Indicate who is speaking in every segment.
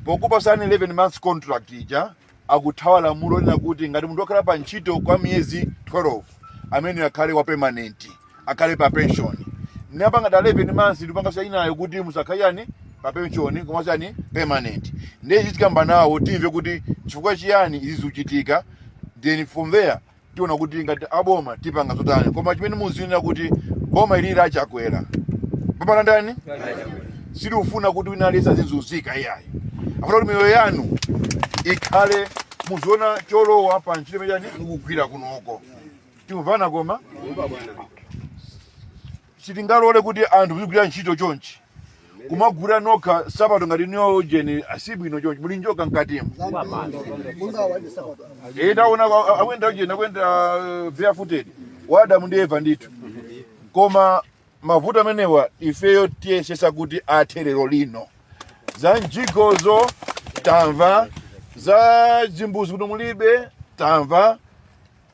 Speaker 1: pokupasani 11 months contract ija akuthawa lamulo lina kuti ngati munthu wakhala pa ntchito kwa miyezi 12 ameneyo akhale wa permanent akhale pa pension anapanga dala 11 months n'kupanga sayinayo kuti musakhale yani pa pension komanso permanent ndiye tikakamba nawo timve kuti chifukwa chiyani izi zikuchitika then from there tiona kuti ngati aboma tipanga zotani koma chimene muziwa n'chakuti boma ili la chakwera bambo wa ndani silikufuna kuti wina aliyense azizunzika iyayi afuna kuti miyoyo yanu ikhale muziona cholowa pa ntchito imene yani mukugwira kunoko tikumvana koma sitingalole kuti anthu muzigwira ntchito chonchi kumagwira opanda sapato ngati iyo ujeni asibwino chonchi muli njoka mkatimu Eh, taona kwa- akuyenda ujeni akuyenda eh, barefooted adamu ndi eva ndithu koma mavuto amenewa ifeyo tiyesesa kuti athe lero lino za mijigozo tamva za zimbuzi kuti mulibe tamva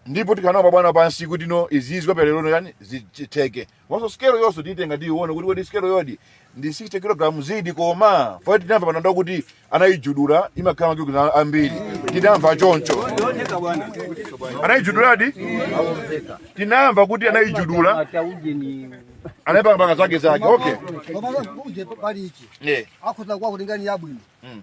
Speaker 1: ndipo tikhala nawo abwana pansi kuti no izizi zapalerolino yani zitheke komanso sikelo yonso tiyitenga tiyione kuti kodi sikeloyodi ndi 60 kg zedi koma fai tinamva panjapa kuti anayijudula imakhala makilogalamu ambiri tinamva choncho anayijuduladi tinamva kuti anayijudula anayipanga panga zake zake okay Koma
Speaker 2: ujeni pali ichi. yeah. Akhoza kwa kulingani yabwino. Mm.